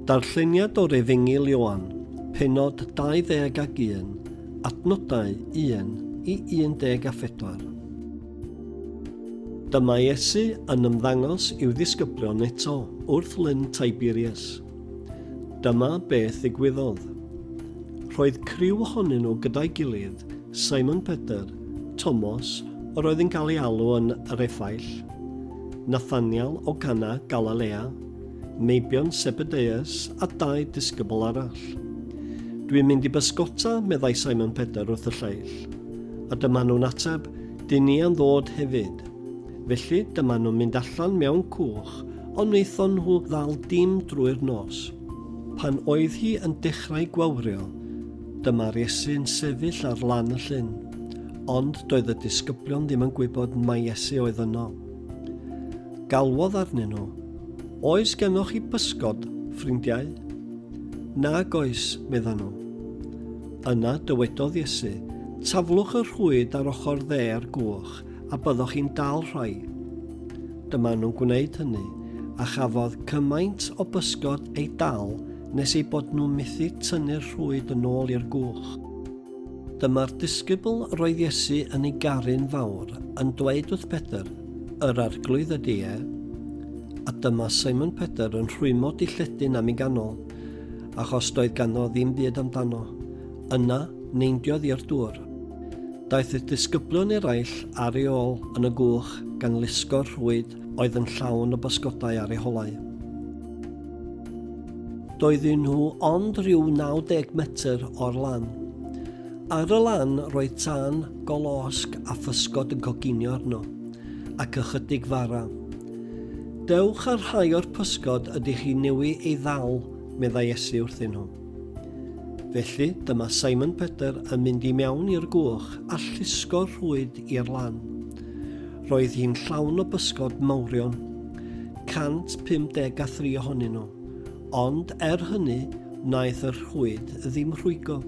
Darlleniad o'r Efengyl Ioan, pennod 21, adnodau 1 i 14. Dyma Iesu yn ymddangos i'w ddisgyblion eto wrth Lyn Tiberias. Dyma beth ddigwyddodd. Roedd criw ohonyn nhw gyda'i gilydd Simon Peter, Tomos, yr oedd yn cael ei alw yn yr Efaill, Nathaniel o Gana, Galalea, meibion Sebedeus a dau disgybl arall. Dwi'n mynd i bysgota, meddai Simon Peter wrth y lleill. A dyma nhw'n ateb, Dyn ni am ddod hefyd. Felly, dyma nhw'n mynd allan mewn cwch, ond wnaethon nhw ddal dim drwy'r nos. Pan oedd hi yn dechrau gwawrio, Dyma'r Iesu'n sefyll ar lan y llyn. Ond doedd y disgyblion ddim yn gwybod mai Iesu oedd yno. Galwodd arnyn nhw, Oes gennoch chi bysgod, ffrindiau? Nag oes, meddan nhw. Yna dywedodd Iesu, Taflwch y rhwyd ar ochr dde a'r gwch, a byddwch chi'n dal rhai. Dyma nhw'n gwneud hynny, a chafodd cymaint o bysgod ei dal nes eu bod nhw methu tynnu'r rhwyd yn ôl i'r gwch. Dyma'r disgybl roedd Iesu yn ei garu'n fawr yn dweud wrth Pedr, Yr arglwydd ydy e. A dyma Simon Pedr yn rhwymo dilledyn am ei ganol, achos doedd ganddo ddim byd amdano. Yna, neindiodd i'r dŵr. Daeth y disgyblion eraill ar ei ôl yn y gwch gan lusgo'r rhwyd oedd yn llawn o bysgodau ar ei holau. Doedden nhw ond rhyw 90 metr o'r lan. Ar y lan roedd tân, golosg a physgod yn coginio arno, ac ychydig fara. Dewch ar rhai o'r pysgod ydych chi newi ei ddal, meddai Esi wrthyn nhw. Felly, dyma Simon Peter yn mynd i mewn i'r gwch a llusgo rhwyd i'r lan. Roedd hi'n llawn o bysgod mawrion, 153 ohonyn nhw, ond er hynny, wnaeth y rhwyd ddim rhwygo.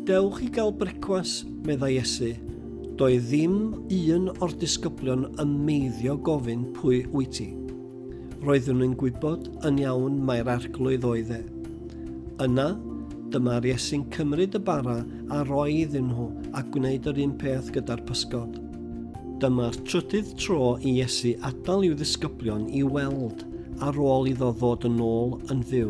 Dewch i gael brecwas, meddai Iesu. Doedd ddim un o'r disgyblion yn meiddio gofyn pwy wyt ti. Roeddwn yn gwybod yn iawn mai'r Arglwydd oedd e. Yna, dyma'r Iesu'n cymryd y bara a roi iddyn nhw a gwneud yr un peth gyda'r pysgod. Dyma'r trydydd tro i Iesu atal i'w ddisgyblion i weld ar ôl iddo ddod yn ôl yn fyw.